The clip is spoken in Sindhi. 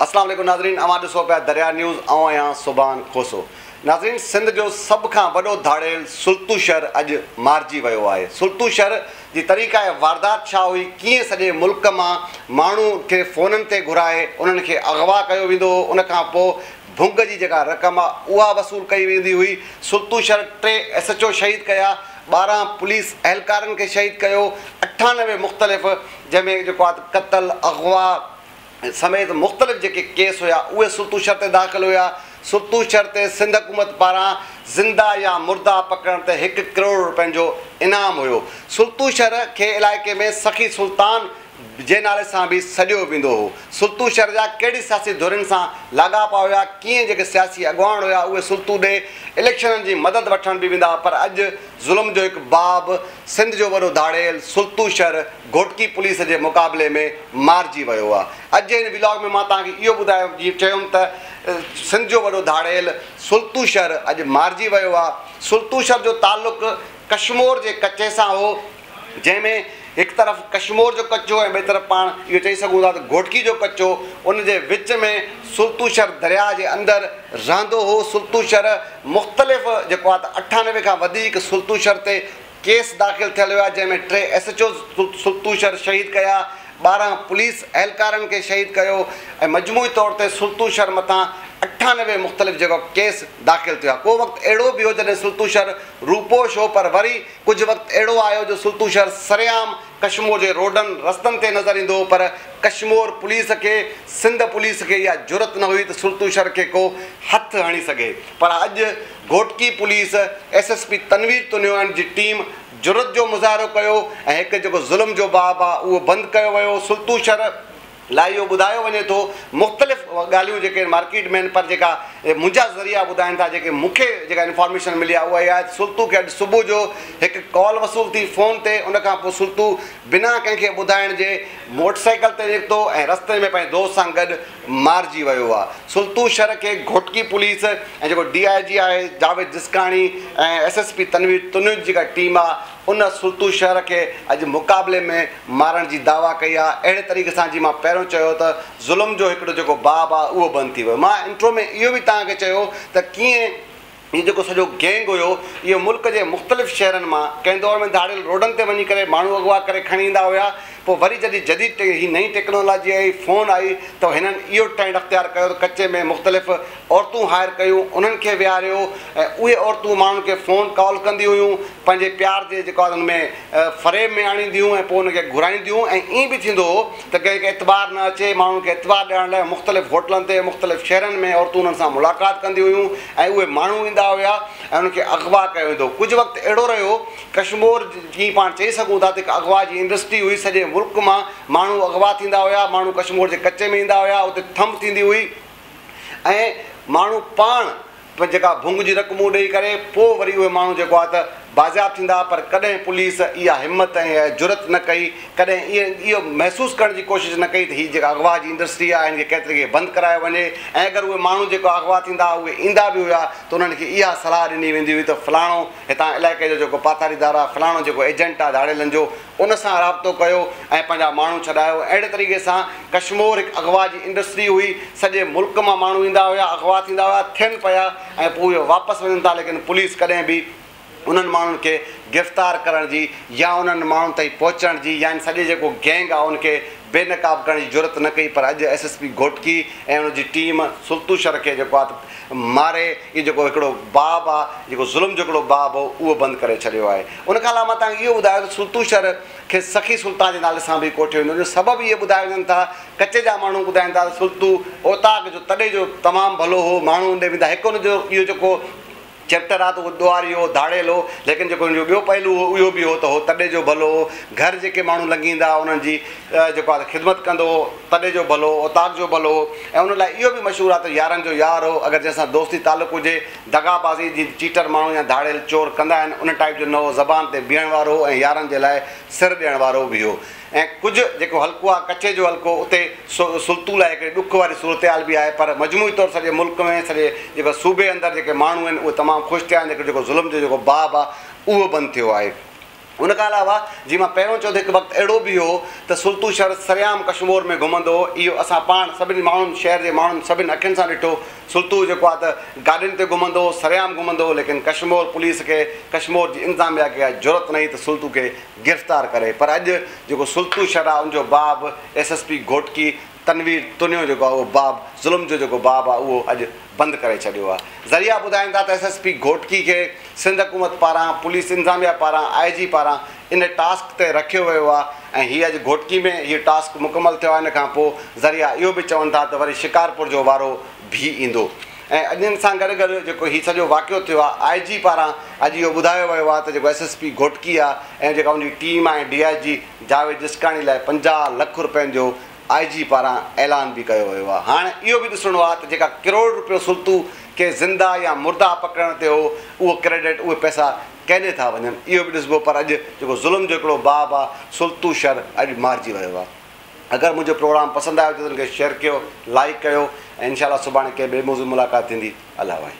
اسلام عليڪم ناظرين اوهان ڏسو پيا دريا نيوز آئون آهيان سبحان کوسو ناظرين سنڌ جو سڀ کان وڏو ڌاڙيل سلطو شهر اڄ مارجي ويو آهي سلطو شهر جي طريقاء واردات ڇا هئي ڪيئن سڄي ملڪ مان ماڻهو کي فونن تي گهرائي انهن کي اغوا ڪيو ويندو هو ان کان پو ڀونگ جي جيڪا رقم آ اها وصول ڪئي ويندي هئي سلطو شهر ٽي ايس ايچ او شهيد ڪيا ٻارهن پوليس اهلڪارن کي شهيد ڪيو اٺانوي مختلف جنهن ۾ جيڪو آ قتل اغوا سميت مختلف جيڪي ڪيس هيا اهي سلطو شھر تي داخل هيا، سلطو شھر تي سنڌ حڪومت پاران زنده يا مرده پڪڙڻ تي هڪ ڪروڙ رپين جو انعام هيو، سلطو شھر کي علائقي ۾ سخي سلطان جي نالي سان به سڏيو ويندو هو، سلطو شھر جا ڪهڙي سياسي ڌرين سان لاڳاپا هيا ڪيئن جيڪي سياسي اڳواڻ هيا اهي سلطو ڏي اليڪشنن جي مدد وٺڻ به ويندا پر اڄ ظلم جو هڪ باب سنڌ جو وڏو ڌاڙيل سلطو شھر گهوٽڪي پوليس جي مقابلي ۾ مارجي ويو آ. اڄ جي هن ولاگ ۾ مان توهان کي اهو ٻڌايو جيئن چيم ته سنڌ جو وڏو ڌاڙيل سلطوشهر اڄ مارجي ويو آ. سلطوشهر جو تعلق ڪشمور جي ڪچي سان هو جنهن ۾ هڪ طرف ڪشمور جو ڪچو ۽ ٻئي طرف پاڻ اهو چئي سگهون ٿا ته گهوٽڪي جو ڪچو ان جي وچ ۾ سلطوشهر درياء جي اندر رهندو هو. سلطوشهر مختلف جيڪو آ ته اٺانوي کان وڌيڪ سلطوشهر تي ڪيس داخل ٿيل هيا جنهن ۾ ٽي ايس ايڇ اوز سرتوشر شهيد ڪيا، ٻارهن پوليس اهلڪارن کي شهيد ڪيو ۽ مجموعي طور تي سرتوشر مٿان اٺانوي مختلف جڳهه ڪيس داخل ٿيا، ڪو وقت اهڙو به هيو جڏهن سرتوشر روپوش هو پر وري ڪجهه وقت اهڙو آيو جو سرتوشر سرعام ڪشمور جي روڊن رستن تي نظر ايندو هو پر ڪشمور پوليس کي سنڌ پوليس کي اها جرئت نه هئي ته سرتوشر کي ڪو هٿ هڻي سگهي پر اڄ Ghotki police S S P Tanveer تنيوان جي ٽيم جرئت جو مظاهرو ڪيو ۽ هڪ جيڪو ظلم جو باب آ اهو بند ڪيو ويو سلطو شھر لاء اهو ٻڌايو وڃي ٿو مختلف ڳالهيون جيڪي ان مارڪيٽ ۾ آهن پر جيڪا منهنجا ذريعا ٻڌائين ٿا جيڪي مون کي جيڪا انفارميشن ملي آ اها اها آهي ته سلطو کي اڄ صبح جو هڪ ڪال وصول ٿي فون تي ان کان پوء سلطو بنا ڪنهن کي ٻڌائڻ جي موٽر سائيڪل تي نڪتو ۽ رستي ۾ پنهنجي دوست سان گڏ مارجي ويو آهي سلطو شھر کي گھوٽڪي پوليس ۽ جيڪو ڊي آء جي آهي Javed Jaskani ۽ S S P Tanveer تنوج جيڪا ٽيم آ ان سلطو شھر کي اڄ مقابلي ۾ مارڻ جي دعويٰ ڪئي آ اهڙي طريقي سان جي مان پهريون چيو ته ظلم جو هڪڙو جيڪو باب آ اهو بند ٿي ويو مان انٽرو ۾ اهو به توهان کي چيو ته ڪيئن هي جيڪو سڄو گينگ هيو اهو ملڪ جي مختلف شهرن مان ڪنهن دور ۾ ڌاڙيل روڊن تي وڃي ڪري ماڻهو اغوا ڪري کڻي ايندا هيا پوء وري جڏهن جديد ٽي هي نئين ٽيڪنالاجي آئي فون آئي ته هنن اهو ٽرينڊ اختيار ڪيو ته ڪچي ۾ مختلف عورتون هائر ڪيون انهن کي ويهاريو ۽ اهي عورتون ماڻهن کي فون ڪال ڪندي هيون پنهنجي پيار جي جيڪو آ ان ۾ فريب ۾ آڻينديون هيون ۽ پوء ان کي گهرائينديون هيون ۽ ائين به ٿيندو هو ته ڪنهن کي اعتبار نه اچي، ماڻهن کي اعتبار ڏيارڻ لاء مختلف هوٽلن تي مختلف شهرن ۾ عورتون انهن سان ملاقات ڪنديون هيون ۽ اهي ماڻهو ايندا هيا ۽ انهن کي اغوا ڪيو ويندو ڪجهه وقت اهڙو رهيو ڪشمور جي پاڻ چئي سگهون ٿا ته هڪ اغوا جي انڊسٽري هئي سڄي ملڪ مان ماڻهو اغوا ٿيندا هيا ماڻهو ڪشمور جي ڪچي ۾ ايندا هيا اتي ٿنڀ ٿيندي هئي ۽ ماڻهو پاڻ پر جيڪا ڀونگ جي رقمون ڏئي ڪري پوء وري اهي ماڻهو جيڪو آهي ته بازياب ٿيندا پر ڪڏهن پوليس اها همت ۽ اها جرئت نه ڪئي ڪڏهن اهو محسوس ڪرڻ جي ڪوشش نه ڪئي ته هي جيڪا اغوا جي انڊسٽري آهي هن کي ڪنهن طريقي بند ڪرايو وڃي ۽ اگر اهي ماڻهو جيڪا اغوا ٿيندا هئا اهي ايندا به هيا ته انهن کي اها صلاح ڏني ويندي هئي ته فلاڻو هتان علائقي جو جيڪو پاتاريدار آهي فلاڻو جيڪو ايجنٽ آهي ڌاڙيلن جو ان سان رابطو ڪيو ۽ پنهنجا ماڻهو ڇڏايو اهڙي طريقي سان ڪشمور هڪ اغوا جي انڊسٽري هئي سڄي ملڪ مان ماڻهو ايندا هيا اغوا ٿيندا هيا ٿين پيا ۽ پوء اهي واپس وڃن ٿا ليڪن پوليس ڪڏهن به انهن ماڻهن کي گرفتار ڪرڻ جي يا انهن ماڻهن تائين پهچڻ جي يعني سڄي جيڪو گينگ آهي ان کي بي نقاب ڪرڻ جي جرئت نه ڪئي پر اڄ ايس ايس پي گهوٽڪي ۽ ان جي ٽيم سلطوشر کي جيڪو آهي ماري اهو جيڪو هڪڙو باب آهي جيڪو ظلم جو هڪڙو باب هو اهو بند ڪري ڇڏيو آهي ان کان علاوه مان توهان کي اهو ٻڌايو ته سلطو شر کي سخي سلطان جي نالي سان به ڪوٺيو ويندو هو، ان جو سبب اهي ٻڌايا وڃن ٿا، ڪچي جا ماڻهو ٻڌائين ٿا ته سلطو اوطاق جو تڏي جو تمام ڀلو هو، ماڻهو ان ڏي ويندا، هڪ ان جو اهو جيڪو چئپٽر آهي ته اهو ڏوهاري هو، ڌاڙيل هو، ليڪن جيڪو ان جو ٻيو پهلو هو اهو به هو ته هو تڏي جو ڀلو هو، گهر جيڪي ماڻهو لنگهي ايندا هئا انهن جي جيڪو آهي خدمت ڪندو هو، تڏي جو ڀلو هو، اوطاق جو ڀلو هو ۽ ان لاء اهو به مشهور آهي ته يارن جو يار هو، اگر جنهن سان دوستي تعلق هجي. دغابازي جي چيٽر ماڻهو يا ڌاڙيل چور ڪندا آهن ان ٽائيپ جو نه هو زبان تي بيهڻ وارو هو ۽ يارن جي لاء سر ڏيڻ وارو به هو ۽ ڪجهه جيڪو حلقو آهي ڪڇي جو حلقو اتي سلطو لاء هڪڙي ڏک واري صورتحال به آهي پر مجموعي طور سڄي ملڪ ۾ سڄي جيڪو صوبي اندر جيڪي ماڻهو آهن اهي تمام خوش ٿيا آهن جيڪو ظلم جو جيڪو باب آهي اهو بند ٿيو آهي. ان کان علاوه جي مان پهريون چيو ته هڪ وقت اهڙو به هو ته سلطو شر سرعام ڪشمور ۾ گهمندو هو، اهو اسان پاڻ سڀني ماڻهن شهر جي ماڻهن سڀني اکين سان ڏٺو، سلطو جيڪو آهي ته گاڏين تي گهمندو هو، سرعام گهمندو هو، ليڪن ڪشمور پوليس کي، ڪشمور جي انتظاميا کي اها جرئت نه هئي ته سلطو کي گرفتار ڪري، پر اڄ جيڪو سلطو شر آهي ان جو باب S S P Ghotki, Tanveer Tunio جيڪو آهي اهو باب ظلم جو جيڪو باب آهي اهو اڄ بند ڪري ڇڏيو آهي ذريعا ٻڌائين ٿا ته ايس ايس پي گهوٽڪي کي سنڌ حڪومت پاران پوليس انتظاميا پاران آء جي پاران ان ٽاسڪ تي رکيو ويو آهي ۽ هي اڄ گهوٽڪي ۾ هي ٽاسڪ مڪمل ٿيو آهي ان کان پوء ذريعا اهو به چون ٿا ته وري شڪارپور جو وارو ڀي ايندو ۽ اڄ ان سان گڏ گڏ جيڪو هي سڄو واقعو ٿيو آهي آء جي پاران اڄ اهو ٻڌايو ويو آهي ته جيڪو ايس ايس پي گهوٽڪي آهي ۽ جيڪا ان جي ٽيم آهي D I G Javed Jaskani لاء پنجاهه لک رپين جو آء جي پاران اعلان به ڪيو ويو آهي هاڻ اهو به ڏسڻو آهي ته جيڪا ڪروڙ رپيو سلطو ڪي زنده يا مرده پڪڙڻ تي هو اهو ڪريڊٽ اهي پئسا ڪيڏي ٿا وڃن اهو به ڏسبو پر اڄ جيڪو ظلم جو هڪڙو باب آهي سلطو شر اڄ مارجي ويو آهي اگر منهنجو پروگرام پسند آيو ته ان کي شيئر ڪيو لائيڪ ڪيو ۽ انشاء الله سڀاڻي ڪنهن ٻئي موضوع ملاقات ٿيندي الله واحد.